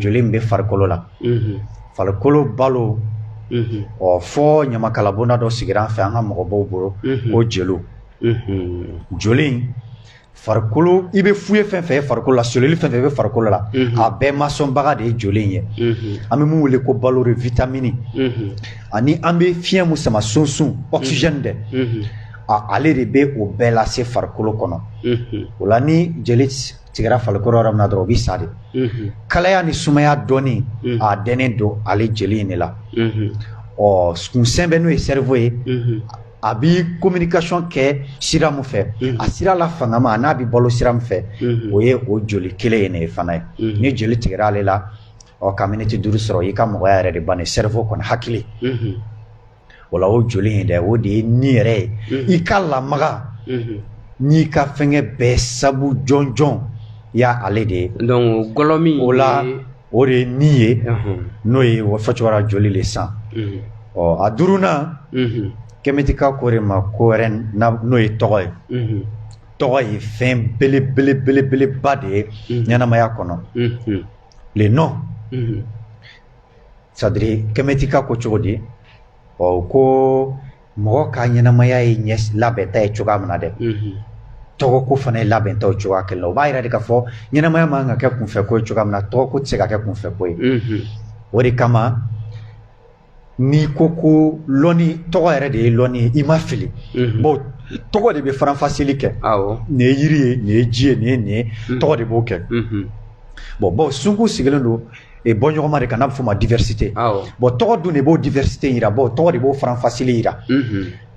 joli bɛ farikolo la farikolo balo ɔ fo ɲamakalabonda dɔ sigira fɛ an ka mɔgɔbaw bolo ko jeliw joli farikolo i bɛ fu ye fɛn fɛn farikolo la cellule fɛn fɛn bɛ farikolo la a bɛɛ masɔnbaga de ye joli ye an bɛ mun wele ko balo de vitamini ani an bɛ fiɲɛ mun sama sunsun oxygène dɛ ale de bɛ o bɛɛ lase farikolo kɔnɔ o la ni jeli tigɛra farikolo yɔrɔ min na dɔrɔn o bɛ sa de kalaya ni sumaya dɔnni a dɛnnen don ale jeli in de la ɔ kunsɛmɛ n'o ye cerveau ye a bɛ communication kɛ sira min fɛ a sira la fangama an'a bɛ balo sira min fɛ o ye o joli kelen ye ni fana ye ni joli tigɛra ale la ɔ ka miniti duuru sɔrɔ i ka mɔgɔya yɛrɛ de bannen cerveau kɔni hakili o la o joli in dɛ o de ye ni yɛrɛ ye i ka lamaga n'i ka fɛngɛ bɛɛ sabu jɔnjɔn y'ale de ye donc gɔlɔ min o la o de ye ni ye n'o ye o fɔcogoya joli le sang ɔ a duurunan kɛmɛtika ko de ma ko wɛrɛ n'o ye tɔgɔ ye tɔgɔ ye fɛn belebelebelebeleba de ye ɲɛnamaya kɔnɔ le nom c'est à dire kɛmɛtika ko cogo di ɔ ko mɔgɔ ka ɲɛnamaya ye ɲɛ labɛnta ye cogoya min na dɛ tɔgɔko fana ye labɛnta o cogoya kelen na o b'a jira de k'a fɔ ɲɛnamaya man ka kɛ kunfɛ ko ye cogoya min na tɔgɔko tɛ se ka kɛ kunfɛ ko ye o de kama n'i ko ko lɔni tɔgɔ yɛrɛ de ye lɔni ye i ma fili bon tɔgɔ de bɛ faranfasili kɛ nin ye yiri ye nin ye ji ye nin ye nin ye tɔgɔ de b'o kɛ bon baw sunko sigilen don e bɔɲɔgɔnma de kan n'a bɛ fɔ o ma diversité bon tɔgɔ dun de b'o diversité yira bon tɔgɔ de b'o faranfasili yira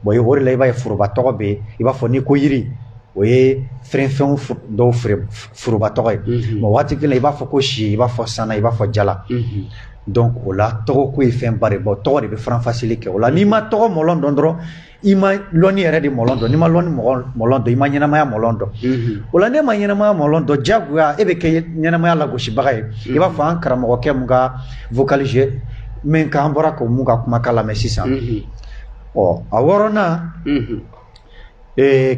bon o la i b'a ye foroba tɔgɔ bɛ i b'a fɔ n'i ko yiri o ye falenfɛn dɔw foroba tɔgɔ ye mais waati kelen i b'a fɔ ko si i b'a fɔ sana i b'a fɔ jala donc o la tɔgɔ ko ye fɛn ba de bon tɔgɔ de bɛ faranfasili kɛ o la n'i ma tɔgɔ mɔlɔn dɔn dɔrɔn i ma lɔnni yɛrɛ de mɔlɔn dɔn n'i ma lɔnni mɔlɔn dɔn i ma ɲɛnamaya mɔlɔn dɔn o la n'e ma ɲɛnamaya mɔlɔn dɔn diyagoya e bɛ kɛ ɲɛnamaya lagosibaga ye i b'a fɔ an karamɔgɔkɛ mun ka vocalise min k'an bɔra ko mun ka kumakan lamɛn sisan ɔ a wɔɔrɔnan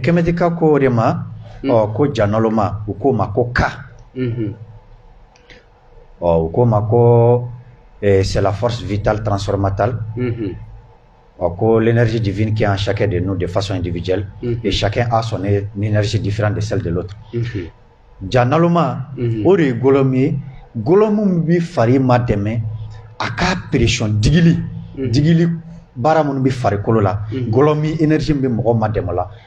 kɛmɛtika ko o de ma ɔ ko ja nalonma u k'o ma ko ka ɔ u k'o ma ko c'est la force vitale transformatale A ko si de kɛ an sa de n'o de fasɔn in dibi jeli ye sa a sɔn nesi difi de seli de lɔtu ja nama o de ye gololɔ min ye gololɔ minnu bɛ fari ma dɛmɛ a k kaa peresɔnon dili dili baara minnu bɛ farikolokolo la gololɔ minsi bɛ mɔgɔ ma dɛmɛ la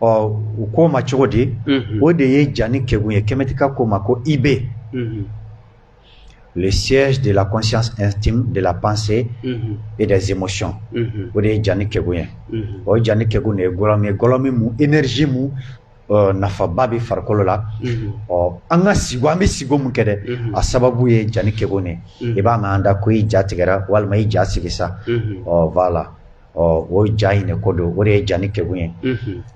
ɔ u k'o ma cogo di o de ye jani kegun ye kɛmɛtika k'o ma ko ib le siège de la conscience intime de la pensée mm -hmm. et des émotions. Mm -hmm. O de ye jani kegun ye. Mm -hmm. O jani kegun de ye gɔlɔmi ye gɔlɔmi mu énergie mu uh, nafaba bɛ farikolo la. Mm -hmm. Ɔ an ka sigo an bɛ sigo mun kɛ dɛ mm -hmm. a sababu ye jani kegun de ye. Mm -hmm. I b'a mɛn an da ko i ja tigɛra walima i ja sigi sa. Mm -hmm. Ɔ voilà. ɔ o ja in de ko don o de ye jani kegun ye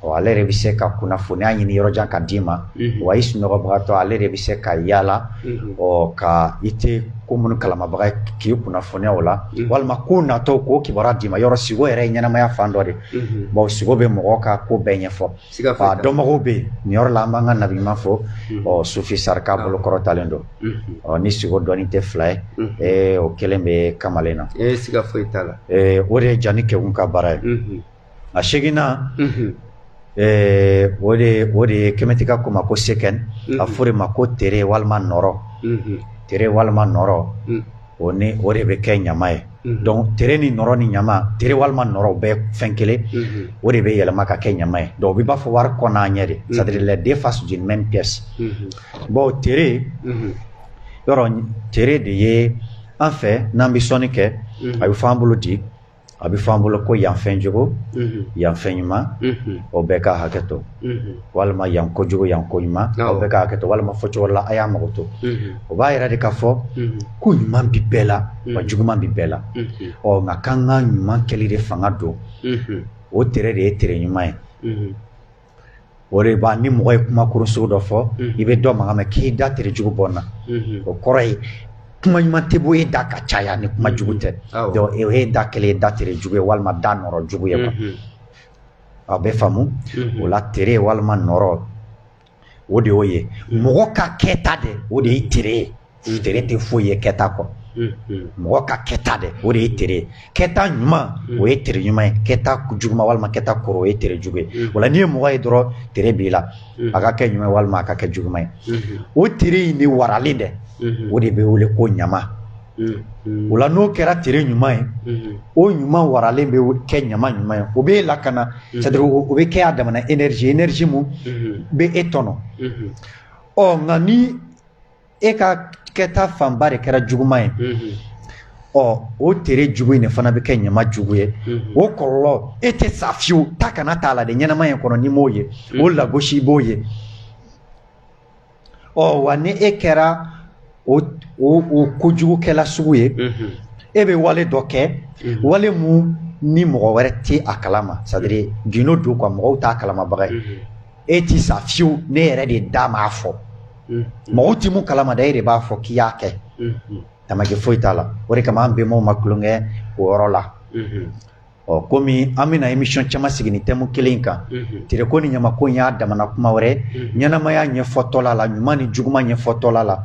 ɔ ale yɛrɛ bɛ se ka kunnafoniya ɲini yɔrɔ jan ka d'i ma wa i sunɔgɔbagatɔ ale de bɛ se ka yaala ɔ ka i tɛ ko minnu kalamabaga ye k'i kunnafoniya o la walima ko natɔ k'o kibaruya d'i ma yɔrɔ sigo yɛrɛ ye ɲɛnamaya fan dɔ de bon sigo bɛ mɔgɔ ka ko bɛɛ ɲɛfɔ dɔnbagaw bɛ yen nin yɔrɔ la an b'an ka nabiɲuman fɔ ɔ sufi saraka bolokɔrɔtalen don ɔ ni sigo dɔnni tɛ fila ye ee o kelen bɛ kamalen na ee siga foyi t'a la ee o de ye jani kegun ka baara ye a seginnan o de o de ye kɛmɛtika k'o ma ko sekhem a fɔ o de ma ko tere walima nɔɔrɔ tere walima nɔɔrɔ o ni o de bɛ kɛ ɲama ye donc tere ni nɔɔrɔ ni ɲama tere walima nɔɔrɔ o bɛɛ fɛn kelen o de bɛ yɛlɛma ka kɛ ɲama ye donc o b'i b'a fɔ wari kɔ n'a ɲɛ de c'est à dire deux faces d'une même pièce bon tere yɔrɔ tere de ye an fɛ n'an bɛ sɔnni kɛ a bɛ fɔ an bolo di A bɛ fɔ an bolo ko yanfɛn jugu yanfɛn ɲuman o bɛɛ ka hakɛ to walima yan kojugu yan ko ɲuman o bɛɛ ka hakɛ to walima fɔ cogo la a y'a makoto o b'a yira de k'a fɔ ko ɲuman bɛ bɛɛ la wa juguman bɛ bɛɛ la ɔ nka k'an ka ɲuman kɛli de fanga don o tere de ye tere ɲuman ye o de b'a ni mɔgɔ ye kuma kuru sugu dɔ fɔ i bɛ dɔn mankan mɛn k'i da tere jugu bɔ n na o kɔrɔ ye kuma ɲuman tɛ bɔ e da ka caya ni kuma jugu tɛ donc e da kelen ye da tere jugu ye walima da nɔɔrɔ jugu ye a bɛ faamu o la tere walima nɔɔrɔ o de y'o ye mɔgɔ ka kɛta de o de ye tere ye Mm. Tere tɛ foyi ye kɛta kɔ mm-hmm. mɔgɔ ka kɛta de o de ye tere ye kɛta ɲuman mm. o ye tere ɲuman ye kɛta juguma walima kɛta kɔrɔ o ye tere jugu ye mm. o la n'i ye mɔgɔ ye dɔrɔn tere b'i la a ka kɛ ɲuman walima a ka kɛ juguma ye mm-hmm. o tere in de waralen dɛ mm-hmm. o de bɛ wele ko ɲama o la n'o kɛra tere ɲuman ye o ɲuman waralen bɛ kɛ ɲama ɲuman ye o bɛ e lakana c'est à dire o bɛ kɛ a damana énergie énergie mun bɛ e tɔnɔ ɔ nka ni e ka kɛta fanba de kɛra juguma ye ɔ o tere jugu in de fana bɛ kɛ ɲama jugu ye o kɔlɔlɔ e tɛ sa fiyewu ta kana t'a la de ɲɛnama in kɔnɔ n'i m'o ye o lagosi b'o ye ɔ wa ni e kɛra o kojugukɛla sugu ye e bɛ wale dɔ kɛ wale mun ni mɔgɔ wɛrɛ tɛ a kalama c'est à dire gindo don quoi mɔgɔw t'a kalamabaga ye e tɛ sa fiyewu ne yɛrɛ de da m'a fɔ mɔgɔw tɛ mun kalama dɛ e de b'a fɔ k'i y'a kɛ tamaki foyi t'a la o de kama an bɛnbaw ma tulonkɛ o yɔrɔ la ɔ komi an bɛna émission caman sigi nin thème kelen in kan tereko ni ɲamako in y'a damana kuma wɛrɛ ɲɛnamaya ɲɛfɔtɔla la ɲuman ni juguman ɲɛfɔtɔla la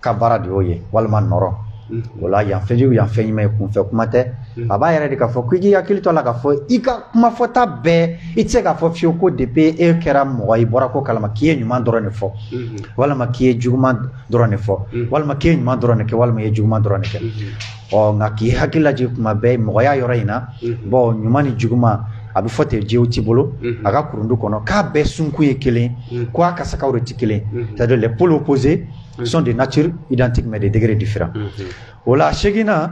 ka baara de y'o ye walima nɔrɔ o la yan fɛnjugu yan fɛn ɲuman ye kunfɛ kuma tɛ a b'a yira de k'a fɔ k'i k'i hakili to a la k'a fɔ i ka kumafɔta bɛɛ i tɛ se k'a fɔ fiyewu ko depuis e kɛra mɔgɔ i bɔra ko kalama k'i ye ɲuman dɔrɔn de fɔ walima k'i ye juguman dɔrɔn de fɔ walima k'i ye ɲuman dɔrɔn de kɛ walima i ye juguman dɔrɔn de kɛ ɔ nka k'i hakili lajigin kuma bɛɛ mɔgɔya yɔrɔ in na bon ɲuman ni juguman a bɛ fɔ ten Jehuti bolo a ka kurundu kɔnɔ k'a bɛɛ sunkun ye kelen ko a kasakaw de tɛ kelen c'est à dire les pôles opposés sont de nature identique mais de degré différent o la seginnan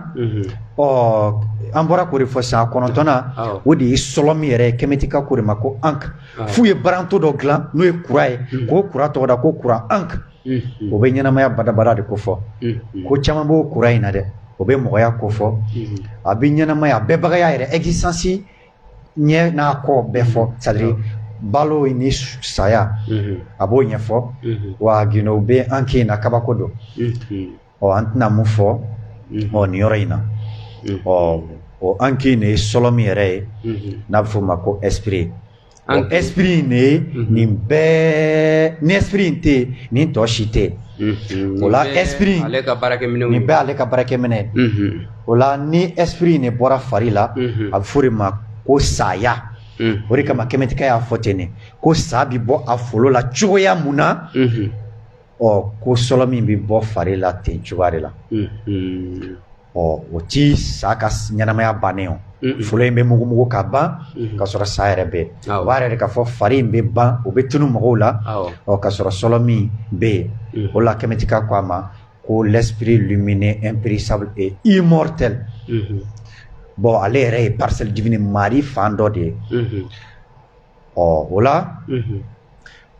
ɔ an bɔra k'o de fɔ sisan a kɔnɔntɔnnan o de ye sɔlɔ min yɛrɛ Kɛmɛtikaw k'o de ma ko ankh f'u ye baranto dɔ dilan n'o ye croix ye k'o croix tɔgɔda ko croix ankh o bɛ ɲɛnamaya badabada de ko fɔ ko caman b'o croix in na dɛ o bɛ mɔgɔya ko fɔ a bɛ ɲɛnamaya a bɛbagaya yɛrɛ existence ɲɛ n'a kɔ bɛɛ fɔ c'est à dire balo ni saya a b'o ɲɛfɔ wa gindo bɛ ankh in na kabako don ɔ an tɛna mun fɔ ɔ nin yɔrɔ in na ɔ o an k'in de ye sɔlɔmin yɛrɛ ye n'a bɛ f'o ma ko esprit o esprit in de ye nin bɛɛ ni esprit in tɛ yen nin tɔ si tɛ yen o la esprit in nin bɛɛ ale ka baarakɛminɛ ye o la ni esprit in de bɔra fari la a bɛ f'o de ma ko saya. Mm. o de kama kɛmɛtika y'a fɔ ten de ko sa bɛ bɔ a folo la cogoya mun na mm-hmm. ɔ ko sɔlɔmin bɛ bɔ fari la ten cogoya de la ɔ o tɛ sa ka ɲɛnamaya bannen o folo in bɛ mugumugu ka ban ka sɔrɔ sa yɛrɛ bɛ o b'a yira de k'a fɔ fari in bɛ ban o bɛ tunu mɔgɔw la ɔ ka sɔrɔ sɔlɔmin bɛ yen o la kɛmɛtika ko a ma ko l'esprit lumineux impérissable et immortel bɔn ale yɛrɛ ye parcelle divine mari fan dɔ de ye ɔ o la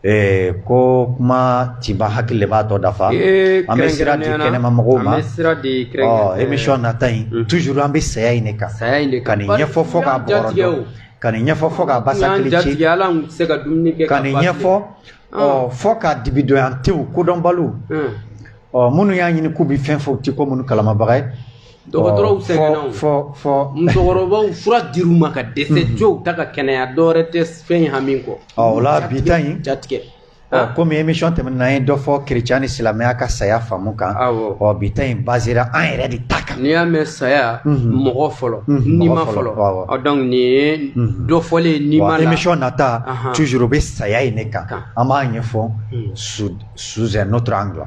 Ɛɛ ko kuma tɛ ban hakili b'a tɔ dafa an bɛ sira di kɛnɛma mɔgɔw ma émission nata in toujours an bɛ saya in de kan ka nin ɲɛfɔ fɔ k'a bɔrɔtɔ ka nin ɲɛfɔ fɔ k'a basa kili ci ka nin ɲɛfɔ ɔ fɔ ka dibidon an te kodɔnbaliw ɔ minnu y'a ɲini k'u bɛ fɛn fɔ u tɛ ko minnu kalamabaga ye dɔgɔtɔrɔw Ɔ, fɔ- sɛgɛnna o. fɔ fɔ musokɔrɔbaw fura dir'u ma ka dɛsɛ jow ta ka kɛnɛya dɔwɛrɛ tɛ fɛn in hami kɔ ɔ o la bi ta in jatigɛ ɔ, komi émission tɛmɛnen an ye dɔ fɔ kerecɛn ni silamɛya ka saya faamu kan Awɔ. ɔ bi ta in basera an yɛrɛ de ta kan n'i y'a mɛn saya Mhm. mɔgɔ fɔlɔ Mhm, n'i mɔgɔ ma fɔlɔ, fɔlɔ awɔ. ɔ, donc nin ye Mhm. dɔ fɔlen ye n'i ma wa la émission nata Ahan. toujours o bɛ saya in de kan Kan. an b'a ɲɛfɔ Mhm. sous sous un autre angle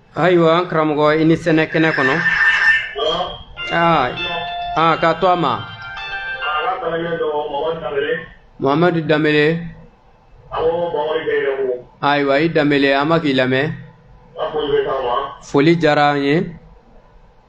ayiwa an karamɔgɔ i ni sɛnɛ kɛnɛ kɔnɔ aa aa k'a to a ma mohamadu danbele ayiwa i danbele an bɛ k'i lamɛn foli diyara an ye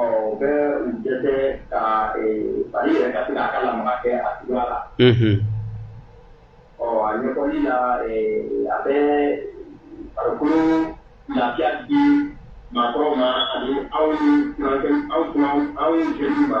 ɔ u bɛ u dɛsɛ ka fari yɛrɛ ka se k'a ka lamaga kɛ a cogoya la ɔ a ɲɛfɔli la a bɛ farikolo lafiya di maakɔrɔw ma ani aw ni aw aw aw jeunes ma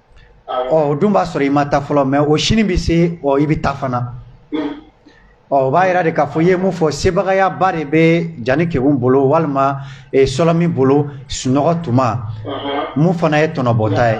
ɔ o dun b'a sɔrɔ i ma taa fɔlɔ mais o sini bɛ se ɔ i bɛ taa fana ɔ o b'a yira de k'a fɔ i ye mun fɔ sebagayaba de bɛ jani kegun bolo walima eh, sɔlɔmin bolo sunɔgɔ tuma mun fana ye tɔnɔbɔta ye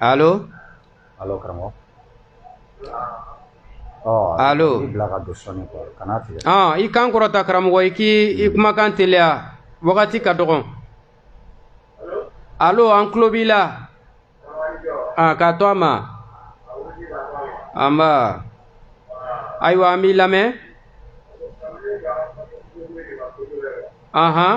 Allo allo karamɔgɔ allo i bila ka don sɔɔni quoi kana tigɛ ɔn i kan kɔrɔta karamɔgɔ i k'i kumakan teliya wagati ka dɔgɔn allo an tulo b'i la ah, k'a to a ma anba ayiwa an b'i lamɛn anhan uh -huh.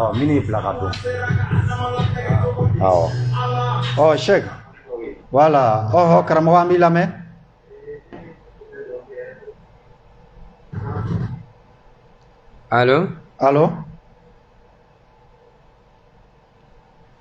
ɔ minnu y'i bila ka don awɔ ɔ Sɛki voilà ɔhɔ karamɔgɔ an b'i lamɛn alo alo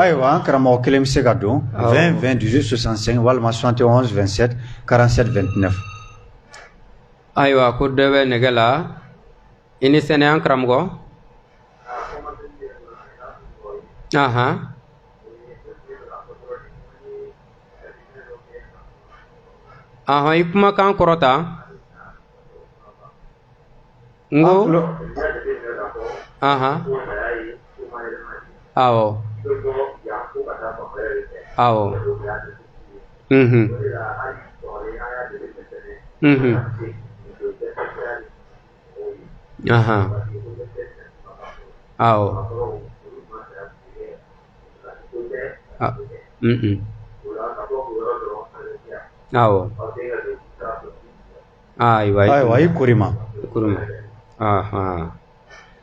Ayiwa an karamɔgɔ kelen bɛ se ka don 20 20 18 65 walima 71 27 47 29 ayiwa ko dɔ bɛ nɛgɛ la i ni sɛnɛ an karamɔgɔ aɔn i kumakan kɔrɔta N ko awɔ awɔ awɔ awɔ ayiwa ayiwa i kori ma kori ma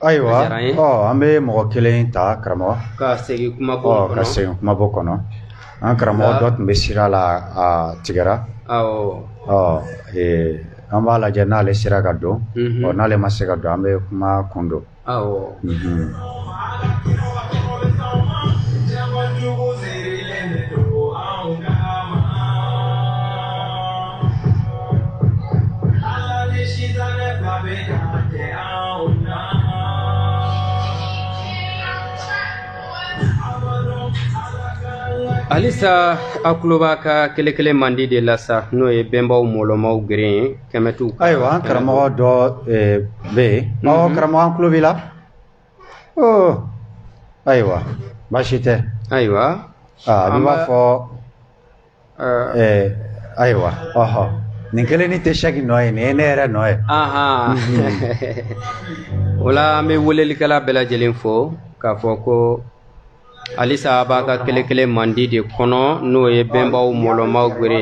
ayiwa ɔ an bɛ mɔgɔ kelen ta karamɔgɔ ka segin kumabon kɔnɔ ka segin kumabon kɔnɔ an karamɔgɔ dɔ tun bɛ sira la a tigɛra ɔ an b'a lajɛ n'ale sera ka don ɔ n'ale ma se ka don an bɛ kuma kun don Awɔ. Halisa a tulo b'a ka kelen kelen mandi de la sa n'o ye benbaw mɔlɔmaw geren ye kɛmɛtu ayiwa an karamɔgɔ dɔ eh, bɛ yen mhm. ɔ karamɔgɔ an tulo b'i la oh, ayiwa baasi tɛ ayiwa ah, a b'a fɔ eh. Eh, ayiwa ɔhɔ nin kelen ni tɛ Sɛki nɔ ye nin ye ne yɛrɛ nɔ ye o la an bɛ welelikɛla bɛɛ lajɛlen fo k'a fɔ ko halisa a b'a ka kelen kelen mandi de kɔnɔ n'o ye benbaw mɔlɔmaw gere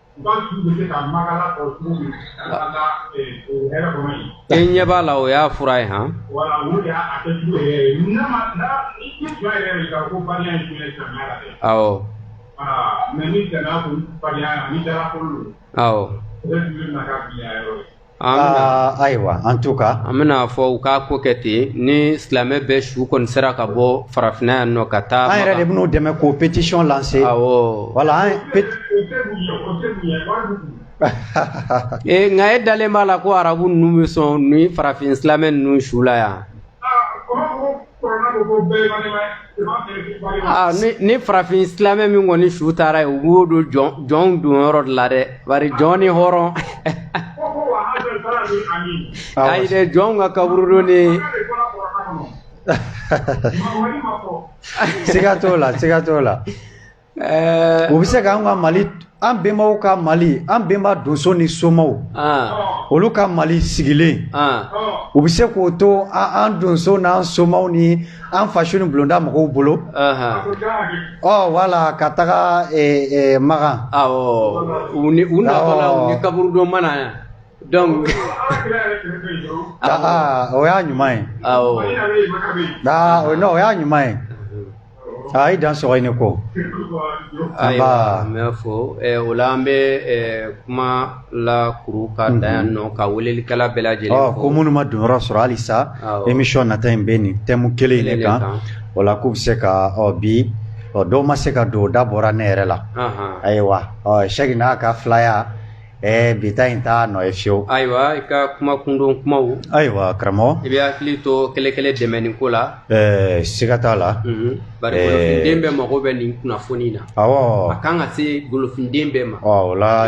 E ɲɛ b'a la o y'a fura ye han Aa ayiwa en tout cas an bɛna fɔ u k'a ko kɛ ten ni silamɛ bɛɛ su kɔni sera ka bɔ farafinna yan nɔ ka taa an yɛrɛ de bɛn'u dɛmɛ k'o pétition lancer voilà ee nka e dalen b'a la ko arabu ninnu bɛ sɔn ni farafin silamɛ ninnu su la yan Ah, ni farafin silamɛ min kɔni su taara yen u b'o don jɔnw donyɔrɔ de la dɛ bari jɔn ni hɔrɔn ayi dɛ jɔnw ka kaburudo ni siga t'o la siga t'o la Ɛɛ u bɛ se k'an ka mali an bɛnbaw ka mali an bɛnba donso ni somaw olu ka mali sigilen u bɛ se k'o to an donso n'an somaw ni an faso ni bulonda mɔgɔw bolo ɔ wala ka taga makan u ni u kaburudo mana yan donc aa o y'a ɲuman ye o y'a ɲuman ye i dan sɔgɔ i ni ko ayiwa n b'i fo o la an bɛ kuma lakuru ka da yan nɔ ka welelikɛla bɛɛ lajɛlen fo ko minnu ma donyɔrɔ sɔrɔ halisa émission nata in bɛ nin thème kelen in de kan o la k'u bɛ se ka bi dɔw ma se ka don o da bɔra ne yɛrɛ la ayiwa Sɛki n'a ka filaya Ɛɛ bi ta in t'a nɔ ye fiyewu ayiwa i ka kuma kundon kuma ayiwa karamɔgɔ i bɛ hakili to kɛlɛ dɛmɛni ko la ɛɛ siga t'a la bari golofinden bɛɛ mago bɛ nin kunnafoni na a kan ka se golofinden bɛɛ ma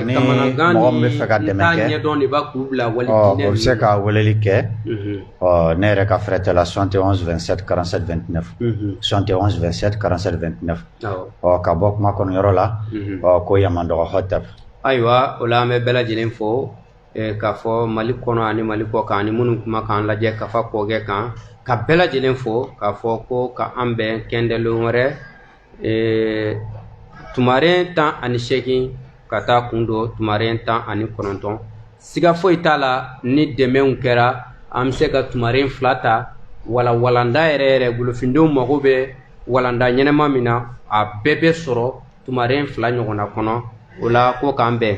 ni mɔgɔ min bɛ fɛ ka dɛmɛ dɔn de b'a k'u bila wali o bɛ se ka weleli kɛ ɔ ne yɛrɛ ka fɛrɛtɛ la 71 27 47 29 71 27 47 29 ɔ ka bɔ kuma kɔnɔ yɔrɔ la mhm. ɔ ko Yamandɔgɔ Hɔtɛp ayiwa o la an bɛ bɛɛ lajɛlen fo eh, k'a fɔ mali kɔnɔ ani mali kɔkan ani minnu kuma k'an lajɛ kafa kɔkɛ kan ka bɛɛ lajɛlen fo k'a fɔ ko ka an bɛn kɛndɛlon wɛrɛ eh, tumaren tan ani seegin ka taa kun don tumaren tan ani kɔnɔntɔn siga foyi t'a la ni dɛmɛw kɛra an bɛ se ka tumaren fila ta wala walanda yɛrɛ yɛrɛ golofindenw mago bɛ walanda ɲɛnama min na a bɛɛ bɛ sɔrɔ tumaren fila ɲɔgɔnna kɔnɔ o la ko k'an bɛn